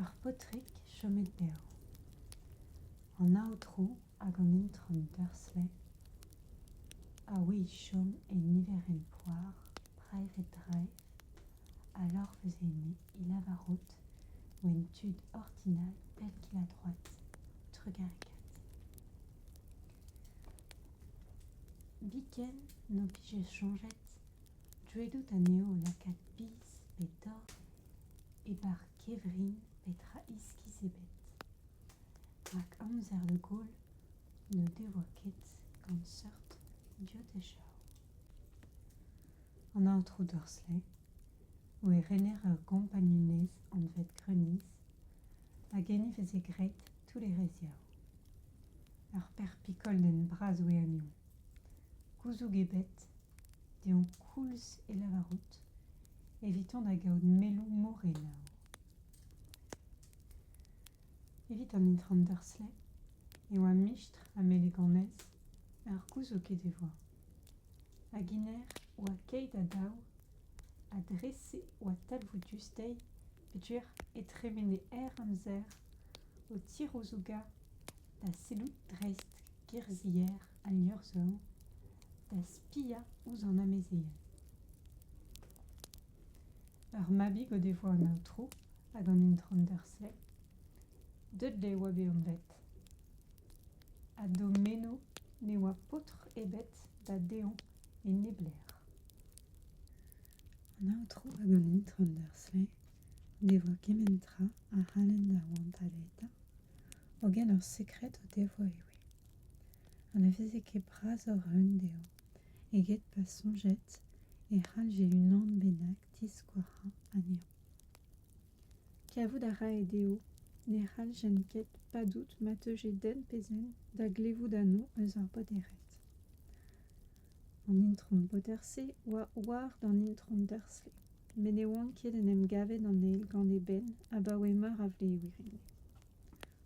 Ar paotrig chomet dezhañ. An aotrou hag an itron Dursley a oe o chom en niverenn Poir, Private Drive, alors vezennet e Lavarotte, wenn tud ordinal pell kil-ha-droad, trugarekaat. Biken n'o pije soñjet Deuet anezho lakaat biz pe dor e-barzh kevrin petra iskis ebet. Rak amzer de Gaulle n'o devoa ket gant seurt dioteshañ. An aotrou Dursley, oe rener ur gompagnunezh anvet Greniz, a genneveze graet tous les reziaoù. Ur perpig-koldenn bras oe anezhoñ. Gouzoug ebet, deomp koulz e lavarout, evitañ da gaout melloù morenaoù. Evit an itron Dursley e oa mistr ha meleganez ur gouzoug he devoa. Hag iner oa keit ha dav, ha dre-se oa talvoudus dezhi peogwir e tremene hir amzer o tirouzougañ da sellout dreist gerzhier al liorzh-zorn, da spiañ ouzh an amezeien. Ur mabig o devoa an aotrou hag an itron Dursley. Dudley oa bet anvet. Ha d'o meno ne oa paotr ebet da dezhañ e neblec'h. An aotrou hag an itron Dursley o devoa kement tra a c'hallent da oantaleta hogen ur sekred o devoa e wez ha ne veze ket brasoc'h a-un dezhañ eget pa soñjed e c'hallje unan bennak diskouarhañ anezhañ kavout a rae dezho ne c'halljent ket padout ma teuje den pe zen da glevout anv eus ar boderezh An Itron Bauderse oa war d'an Itron Dursley, met ne oant ket en em gavet an eil gant eben abaoe meur a vlevien.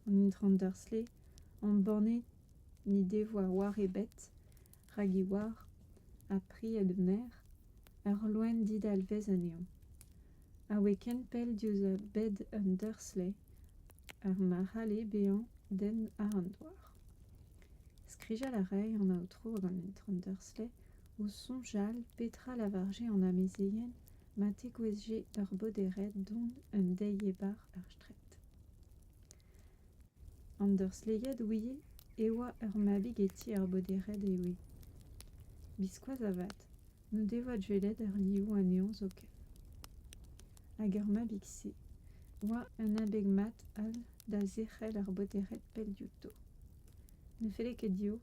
An Itron Dursley, embannet n'he devoa war ebet rak he oar, ha pried he merc'h, ur loen didalvez anezhañ. A oe ken pell diouzh bed an Dursley, ar marc'hale bezañ den àr an douar. Skrijal a rae an aotrou gant un tamm deurslej o soñjal petra lavarje an amezeien ma tegouezhje ur bodered don un deiz-ebar er straed. An deurslejad ouie e oa ur mabig e ti ar bodered e oe. Biskoazh avat n'en devoa dwelet ar liv anezhañ zoken. Hag ar mabig-se oa un abeg mat all da zerc'hel ar botered pell diouto. Ne felle ket dezho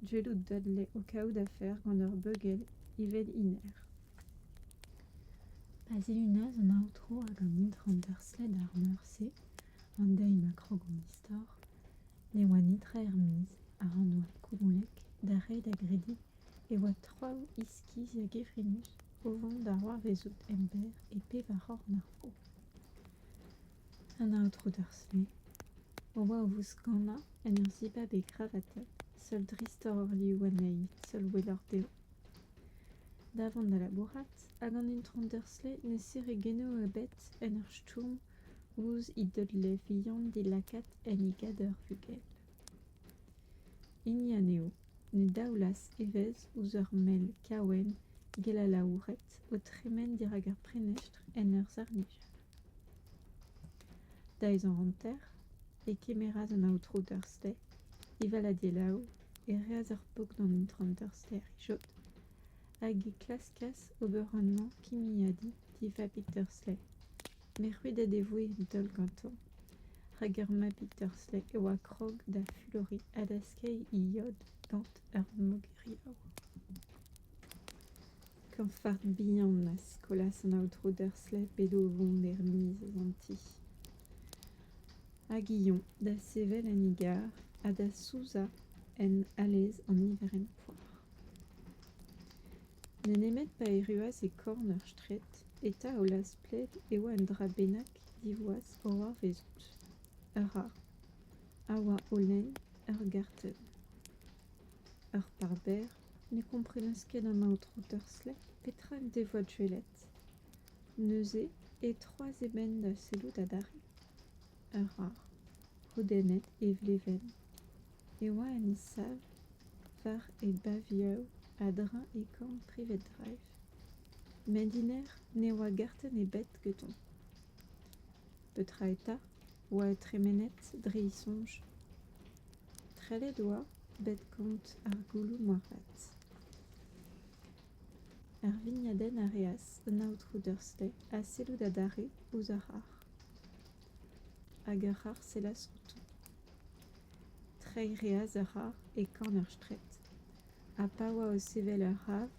dwelout Dudley o kaout afer gant ur beugel evel hennezh. Pa zilunaz an aotrou hag an itron Dursled ar meur-se an deiz ma krogomp istor, ne oa netra er-maez a-raok oa Koulolek da reiñ da grediñ e oa traoù iskis a-gevrinus o vont da c'hoarvezout emberr e pevar c'horn ar vro. an aotrou dursley o oa o vouskanañ en ur zibab e gravatenn seul dreistoc'h liv anezhi seul welloc'h dezho da vont da labourat hag an itron dursley ne sere genoù ebet en ur stourm ouzh he deullev vihan dilakaet en he gador vugel hini anezho Ne daolas evezh ouzh ur mell kaouenn gell-alaouret o tremen dirak ar prenestr en ur servij. Da ezañ hanter e kemeras an aotrou Dursley evel a delaou e reas ar pok d'an itron Dursley rijod hag e klaskas ober anv kimiadi di vabig Dursley Merc'huded e voe daol gantañ, rak ar mabig Dursley e oa krog da fuloriñ ha da skeiñ he yod gant ur mogeriaou. Kañfard bihan a skolas an aotrou Dursley p'edo o vont er miz an ti. Hag Ion da sevel en e garr ha da souzañ en alez an niverenn poar. N'eo nemet pa erruas e korn ur straed eta o lazh-pled e oa un dra bennak divoas o c'hoarvezout. Ur ra a oa o lenn ur gartenn. Ur par-berr ne komprenas ket amañ tro Dursley petra en devoa gwelet. Neuze e troas e benn da sellout adarre. Ur ra, hodennet e vlevenn. e oa en sav war e bavioù a-dreñv e korn Privet Drive met dinec'h ne oa gartenn ebet gantañ. Petra eta oa tremenet dre e soñj trellet oa bet kont ar gouloù moarvat. Ar vignadenn a reas un aotrou Dursley ha sellout adarre ouzh ar c'harr. hag ar c'harr sellas outo. Treiñ 'reas a ra e korn ur straed, ha pa oa o sevel ur c'hav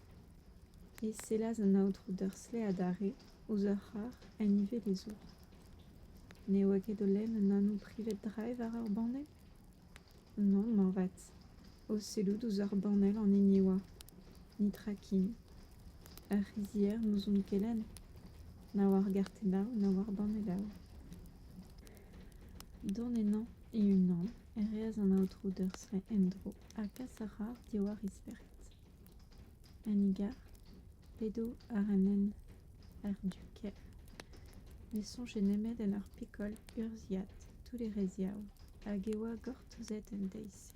e sellas an aotrou Dursley adarre ouzh ur c'harr en ivez d'e zour. Ne oa ket o lenn un anv privet-drae war ur banne ? Non, moarvat. O sellout ouzh ar banell an hini e oa. Nitrakinn. Ar c'hizhier n'ouzon ket lenn. Na war gartennav, na war bannellav. Dont ennañ e-unan e reas an aotrou Dursray en-dro ha kas ar c'harr diwar isperket. an nigar p'edo àr an hent àr du kêr ne soñje nemet en ur pikol urzhiad toull-erreziav hag e oa gortozet en deiz-se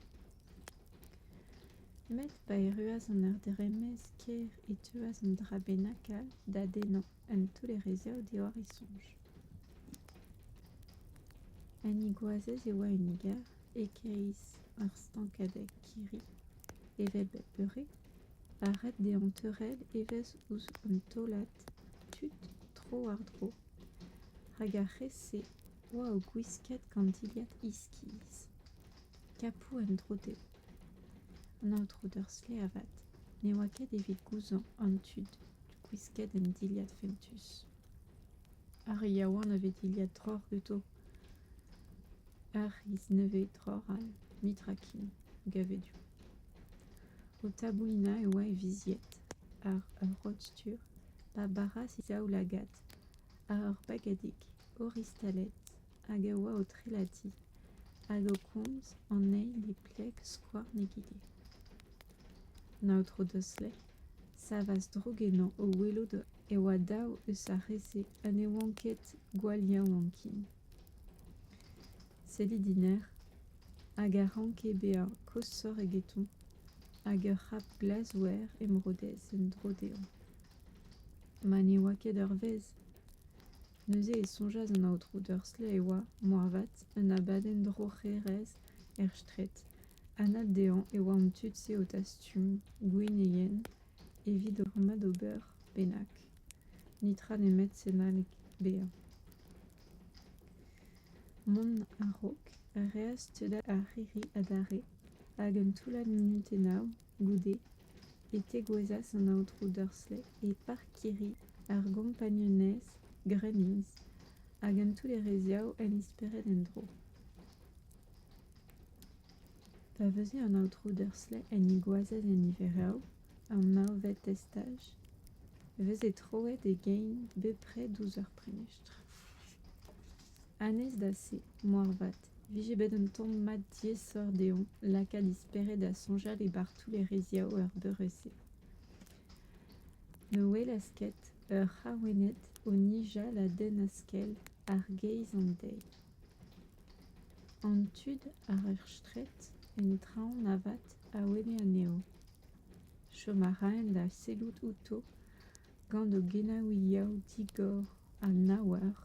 met pa erruas an ardremez kêr e teuas an dra bennak all da dennañ un toull-erreziav diwar e soñj ha ni goazez e oa un nigar e-kreiz ur stankadeg kirri Evel bep beure, ar red dezhañ teurel evezh ouzh un taolad tud tro-war-dro hag ar re-se oa o gwiskat gant dilhad iskis kapou en-dro dezho. An aotrou Dursley avat ne oa ket evit gouzañv an tud gwisket en dilhad fentus. Ar yaouank a vez dilhad troc'h ganto ar c'hiz nevez troc'h all mitrakin gavedoù. O taboulinañ e oa e vizied àr ur rod-stur pa baras e zaoulagad àr ur bagadig oristaled hag a oa o trelatiñ hag o komz anezhi ne pleg skouarn egile. an aotrou dursley savas droug ennañ o welout e oa daou eus ar re-se ha ne oant ket gwall yaouankin sellit iner hag a ranke bezañ koshoc'h egetoñ hag ur c'hap glas wer emrodez en-dro dezhañ ma ne oa ket ur vezh Neuze e soñjas an aotrou Dursley e oa, moarvat, un abadenn droc'herezh er straed. Anat dezhañ e oa an tud-se o tastum gwenneien evit rummad ober bennak. Netra nemet senaleg bezañ. Mont a-raok a reas steudañ ar c'hirri adarre, hag un toullad munutennoù Goude e tegouezhas an aotrou Dursley e parkirri ar gompagnunezh Gremlins hag un toull-erreziañ en he spered en-dro. Pa veuze an aotrou Dursley en he goazez en Iverav, ar marvet estaj, e veze troet e gein bepred ouzh ur prenestr. Anez da se, moarvat, 'E vije bet un tamm mat diaesoc'h dezhañ lakaat he spered da soñjal e bartoù lereziañ er beure-se. Ne welas ket ur c'haouennad o nijal a denn a-skel àr geiz an deiz. An tud àr ar straed en traoñ avat a ouenne anezho. Chom a raent da sellout outo gant o gelaouiañ digor ha naouar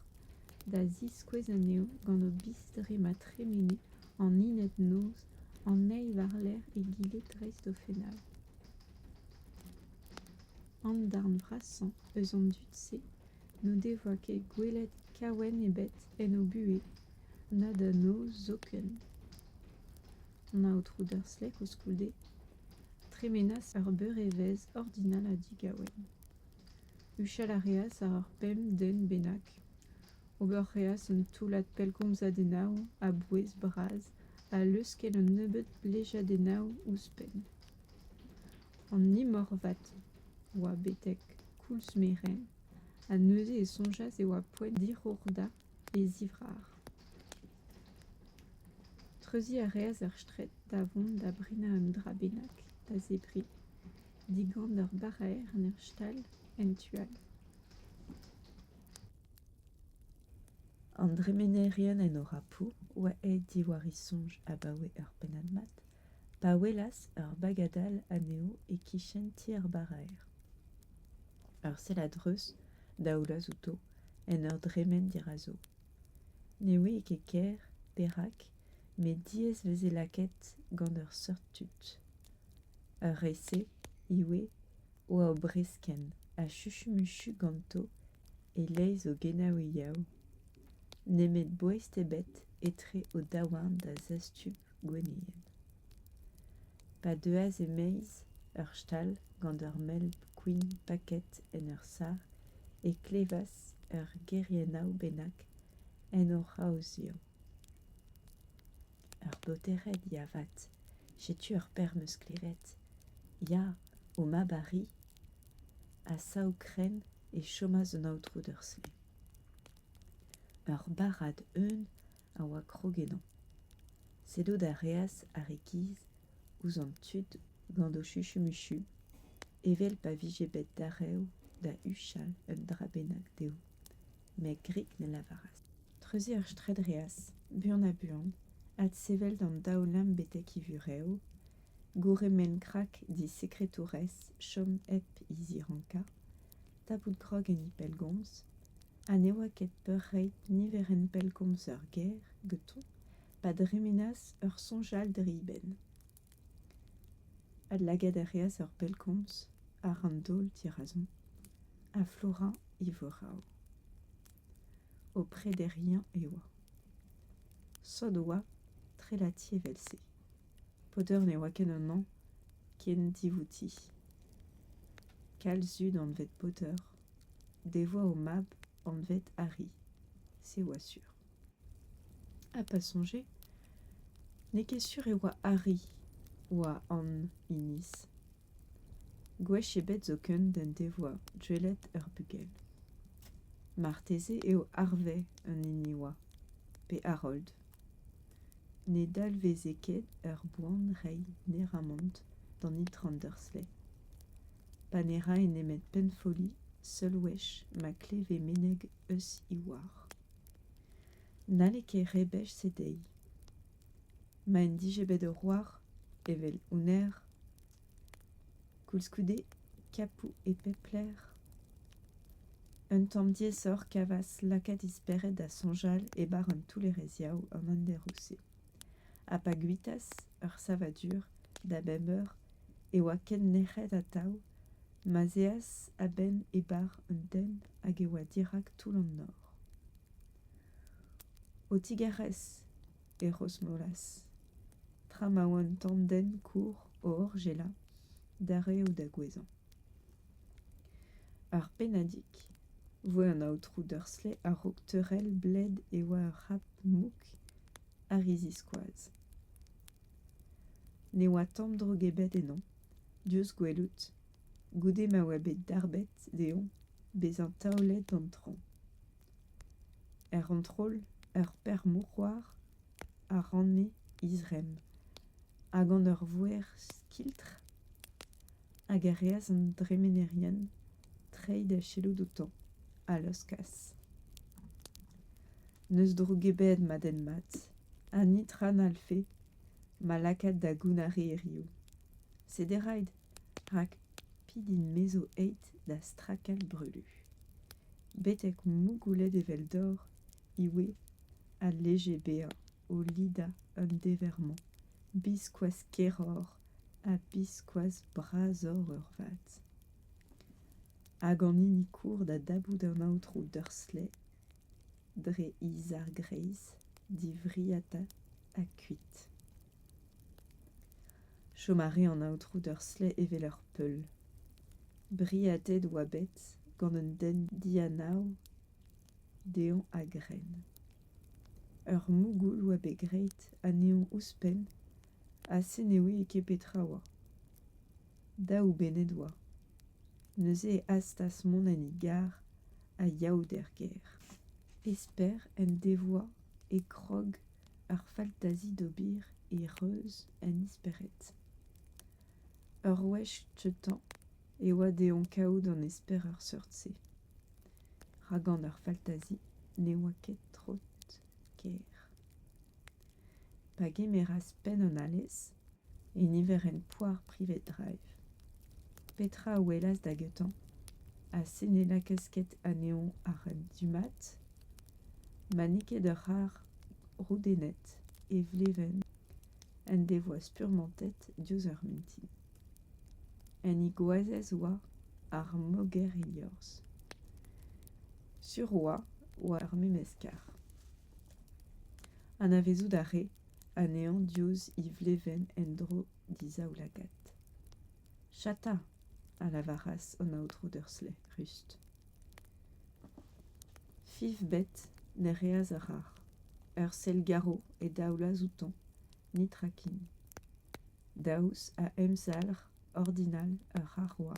da ziskouez anezho gant o biz-dre ma tremene an hinad-noz an eil war-lerc'h egile dreist o fennad an darn vrasañ eus an dud-se n'o devoa ket gwelet kaouenn ebet en o buhez na da noz zoken an aotrou dursley koulskoude tremenas ur beurevezh ordinal ha digauen. Huchal a reas àr ur pemp den bennak. Ober reas un toullad pellgomzadennoù a-bouez bras ha leuskel un nebeud blejadennoù ouzhpenn. An imorvat oa betek koulz merenn ha neuze e soñjas e oa poent dirourdañ e zivrar. Treuziñ a reas ar straed da vont da brinañ un dra bennak da zebriñ, digant ur baraer en ur stal en tu all. An dremenerien en Orapo oa aet diwar e soñj abaoe ur pennad mat pa welas ur bagadal anezho e-kichen ti ar baraer. Ur sell a-dreuz, daoulaz outo, en ur dremen dirazo. Ne ouie ket ker perak, met diaes veze lakaet gant ur seurt tud. Ur re-se ivez oa o breskenn ha chuchumuchu ganto e-leizh o genaouiaou, nemet boest ebet etre o daouarn da zastum gwennienn. Pa deuas e-maez ur stal gant ur mell kwin paket en ur sac'h e klevas ur geriennaou bennak en o c'haozioù. Ur botered ya 'vat, setu ur perm-eus klevet. Ya, o mab arri a sav krenn e chomas un aotrou d'ur sle. Ur barrad eeun a oa krog ennañ. Sellout a reas ar e-giz ouzh an tud gant o chuchumuchu, evel pa vije bet darev da huchal un dra bennak dezho. Met grik ne lavaras. Treuziñ ar straed 'reas, buan-ha-buan, adsevel d'an daoulamm betek he vurev, gourc'hemenn-krak d'he sekretourez chom hep he zirankañ, tapout krog enni pellgomz ha ne oa ket peurreit niverenn pellgomz ur ger ganto pa dremenas ur soñjal dre e benn adlagaat a reas ur pellgomz àr an daol dirazon ha flourañ e vorav o prederiañ e oa sot oa trelati evel-se Poder ne oa ken amañ ken divouti. Kalz zud anvet Poter, devoa o mab anvet Harry, se oa sur. Ha pa soñje, n'eo ket sur e oa Harry oa an iniz. Gwech ebet zoken d'en devoa gwelet ur bugel. Marteze eo Harvey an hini oa, pe Harold. Ne dalveze ket ur boan reiñ neramant d'an itron Dursley. Pa ne rae nemet pennfolli seul wech ma kleve meneg eus he oar. N'halle ket rebech se dezhi. Ma en dije bet ur oar, evel hounnezh, Koulskoude, Kapou e pep lec'h, un tamm diaesoc'h kavas lakaat he spered da soñjal e bar an toullareziañ an handeroù-se. Ha pa guitas ur savadur da bemp eur e oa ken nec'het atav ma'z eas a-benn e bar an den hag e oa dirak toull an nor. O tigarez e Rosnolas, tra ma oa un tamm den kour o orjela d'ar reoù da gouezhañ. Ar pennadig voe an aotrou Dursley a-raok teurel bled e oa ur c'hap mouk a ri ziskoaz. Ne oa tamm drog ebet eno, diouzh gwelout, goude ma oa bet darbet dezhoñ bezañ taolet an traoñ. Er c'hontrol, ur perc'h-mousc'hoar a ranne he zremm, ha gant ur voer skiltr hag a reas an dremenerien treiñ da sellout outañ, a laoskas. N'eus droug ebet, ma den mat, ha nitra n'hallfe ma lakaat da gounnar e erioù. Sederait rak pidin mezo eit da strakell brulu. Betek mougoulet eveldor iwe a leje bezañ o lidañ un dever-mañ biskoazh keroc'h ha biskoazh brasoc'h eurvat. Hag an hini kour da dabout an aotrou Dursley dre he zar greiz, divriata ha kuit. chom a ray an aotrou d'ur stleh evel ur peul briadet oa bet gant un den dianav dezhañ a-grenn ur mougoul oa bet graet anezhañ ouzhpenn ha se ne ouie ket petra oa daou benned oa neuze e hastas mont en e garr a-yaout er gêr esper en devoa e grog ar faltazi d'ober e reuz en espered. Ur wech cheutañ e oa dezhoñ kaout an esper er seurt-se. Rak gant ar faltazi ne oa ket trot ker. Pa gemeras penn an alez e niverenn Poire Private Drive. Petra a welas da gentañ ha se ne lakaas ket anezhoñ àr an du-mat ma n'eo ket ur c'harr roudennet e vlevenn en devoa spurmantet diouzh ur mintin. Un igoazez oa ar moger e liorzh. Sur oa oa ar memes karr. Anavezout a rae anezhañ diouzh he vlevenn en-dro d'he zaoulagad. Chata! a lavaras an aotrou Dursley, rust. Fifbet ne reas a rac'h. Ur sell garv e daolas outañ, nitrakin. Daoust ha emzalc'h ordinal ur c'harr oa?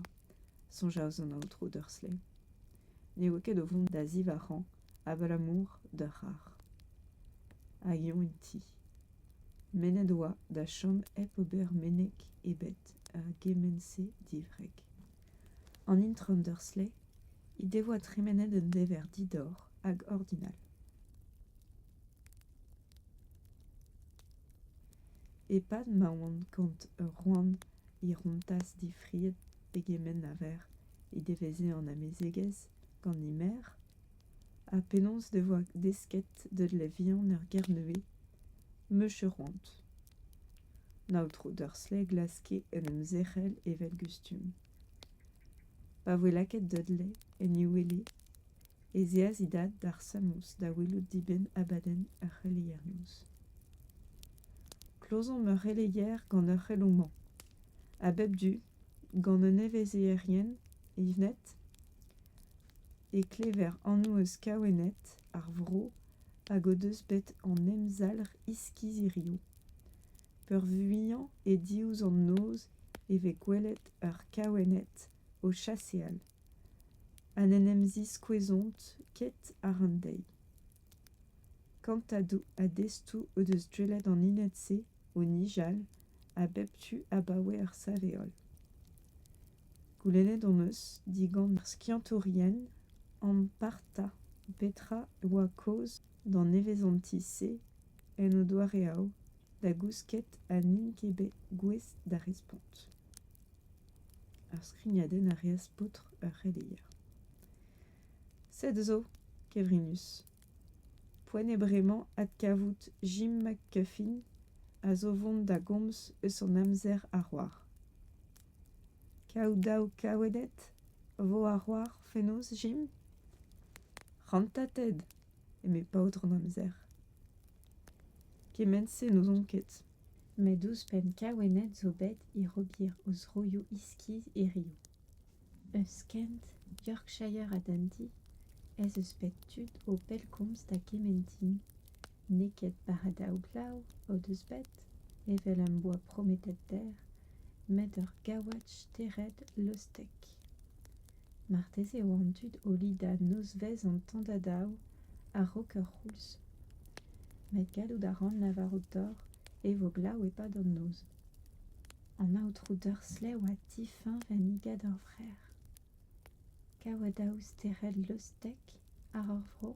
soñjas an aotrou Dursley. Ne oa ket o vont da zivac'hañ abalamour d'ur c'harr hag eo en ti mennet oa da chom hep ober meneg ebet er gement-se diwreg an intron dursley he devoa tremenet un dever didorr hag ordinal e-pad ma oant kant eur c'hoant he rontas difriet pegement a verc'h he deveze an amezegez gant he merc'h Ha penaos e voa desket da vihan er Gernevez meuche c'hoant. An aotrou Dursley glaske en em zerc'hel evel gustum. Pa voe lakaet Dudley en e wele ez eas e dad d'ar Samouz da welout dibenn abadenn ar c'heleier-noz. Klozomp ur c'heleier gant ur c'heloù-mañ. A bep du, gant un nevezierien, Yvette e klever anv eus kaouenned ar vro hag o deus bet an emzalc'h iskizirioù peurvuiañ e diouzh an noz e vez gwelet ur kaouenned o chaseal ha n'en em ziskouezont ket àr an deiz kantadoù a destoù o deus dwelet an hinad-se o nijal a bep tu abaoe ar sav-heol. Goulennet hon eus digant ar skiantourien ampartañ petra e oa kaoz d'an nevezanti-se en o doareoù da gousket ha n'int ket bet gouest da respont. Ar skrignadenn a reas paotr ur c'heleier. Sed zo, kevrinus, Poent eo bremañ adkavout Jim McGuffin a zo vont da gomz eus an amzer a c'hoar. Kaout daou kaoueded a vo a c'hoar fenoz Jim ? Rantatet, eme paotr an amzer. Kement-se n'ouzon ket. Met ouzhpenn kaouenned zo bet hir-ober o zroioù iskis hiriv. Eus kent Yorkshire ha Dundee ez eus bet tud o pellgomz da gement din. N'eo ket bara daou-glav o deus bet, evel am boa prometet dec'h, met ur gaouad stered lostek. Marteze eo an dud o lidañ nozvezh an tandadav a-raok ur c'houlz. Met gallout a ran lavarout deoc'h e vo glav e-pad an noz. An aotrou Dursley oa difiñv ha nigad ur vreur. Kaouadaoù stered leustek àr ur vro,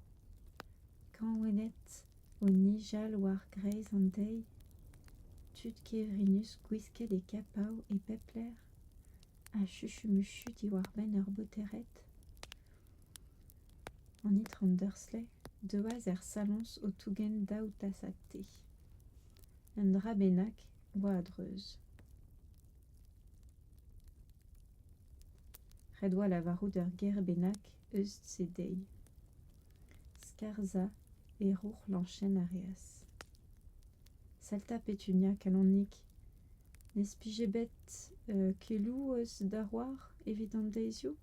kañvennet o nijal war-greiz an deiz, tud kevrinus gwisket e kapav e pep lec'h ha chuchumuchu diwar-benn ur botered. An itron Dursley deuas er saloñs o tougen daou tasad te. Un dra bennak 'oa a-dreuz. Ret 'oa lavarout ur ger bennak eus se dezhi. Skarzhañ e roc'hlañchenn a reas. Salta Petunia kalonik. N'ez pije bet keloù eus da c'hoar evit an deizioù?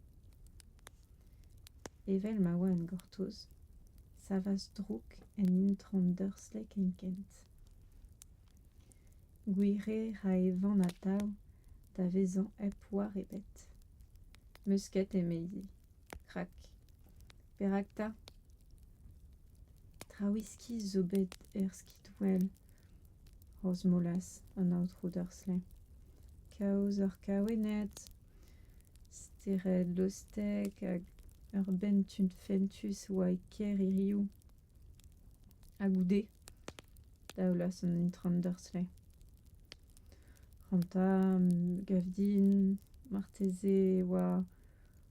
Evel ma oa en gortoz, savas drouk en intron Dursley kenkent. Gwire ra e van atav da vezañ hep war ebet. Meusket emezañ. Krak. Perak 'ta ? Traoù iskis zo bet er skidwell, Rosmolas, an aotrou Dursley. Kaoz hor kaouenned Steredostek hag ur benntud fentus oa e kêr hiriv. Ha goude daolas an intron Dursley. Ranta, Gavdin, marteze e oa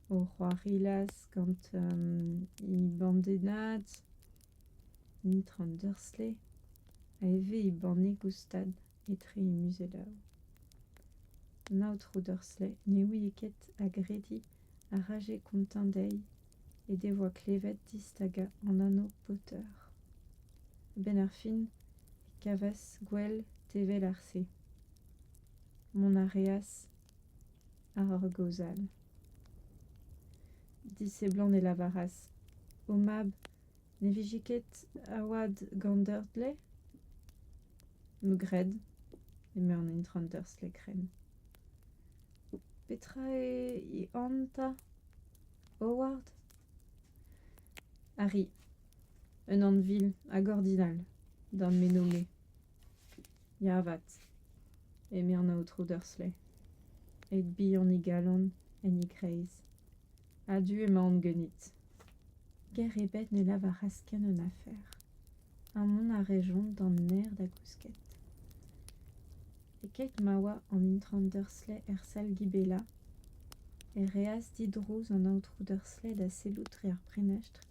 o c'hoarilas gant he bandennad, an intron Dursley, ha ivez he banne goustad. etre muzelaoù. An aotrou Dursley ne ouie ket agrediñ a raje kontañ dezhi he devoa klevet distagañ an anv Potter. A-benn ar fin e kavas gwell tevel ar se. Mont a reas àr ur gaoz all. Diseblant e lavaras, O mab, Ne vije ket a-oad gant Dörtle? Me gred, eme an intron Dörtle-krenn. Petra eo e an 'ta? Howard? Harry, un anvil hag ordinal, d'am meno-me. Ya avat, eme an aotrou Dursley, eit bihan e galon en e greiz. A-du emaon ganit. Ger ebet ne lavaras ken un afer, ha mont a rejont d'an naer da gousket. E-keit ma oa an intron Dursley er sal Gibela, e reas didrouz an aotrou Dursley da sellout dre ar prenestr,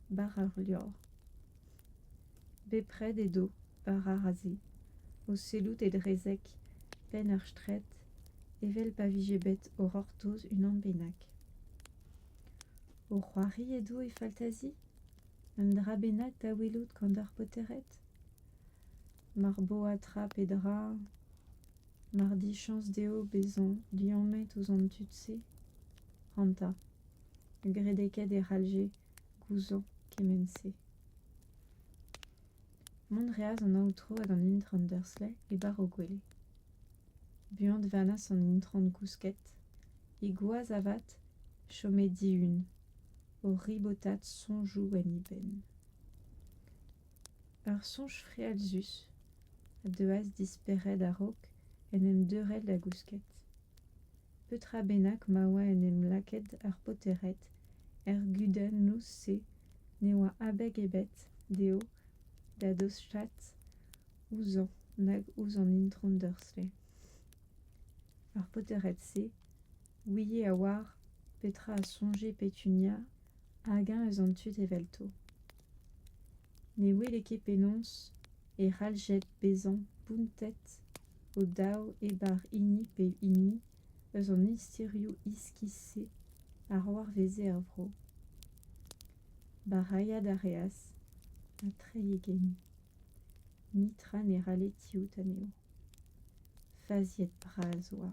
bara ar levr. Bepred edo, bara a-se, o sellout e drezeg, penn ur straed evel pa vije bet o c'hortoz unan bennak. O c'hoari edo e faltazi un dra bennak da welout gant ar paotred mar bo adra pe dra mar dichañs dezho bezañ liammet ouzh an tud-se ranta graet eo ket e c'hallje gouzout kement-se Mont 'reas an aotrou hag an intron Dursley e bar o gwele. Buan 'vanas an intron gousket, he gwaz avat chome dihun, o ribotat soñjoù en he benn. Ur soñj frealzus a deuas dispered a-raok en em deurel da gousket. petra bennak ma oa en em lakaet ar paotred er gudennoù-se ne oa abeg ebet dezho da dostaat ouzhañ nag ouzh an itron dursley ar paotred-se ouie a-walc'h petra a soñje petunia hag-eñ eus an tud evelto Ne wele ket penaos e c'halljed bezañ bountet o-daou e-bar hini pe hini eus an istirioù iskis-se a c'hoarveze er vro. Barailhat a reas ha treiñ e gein. Nitra ne ralle tiout anezho. Faziet bras oa.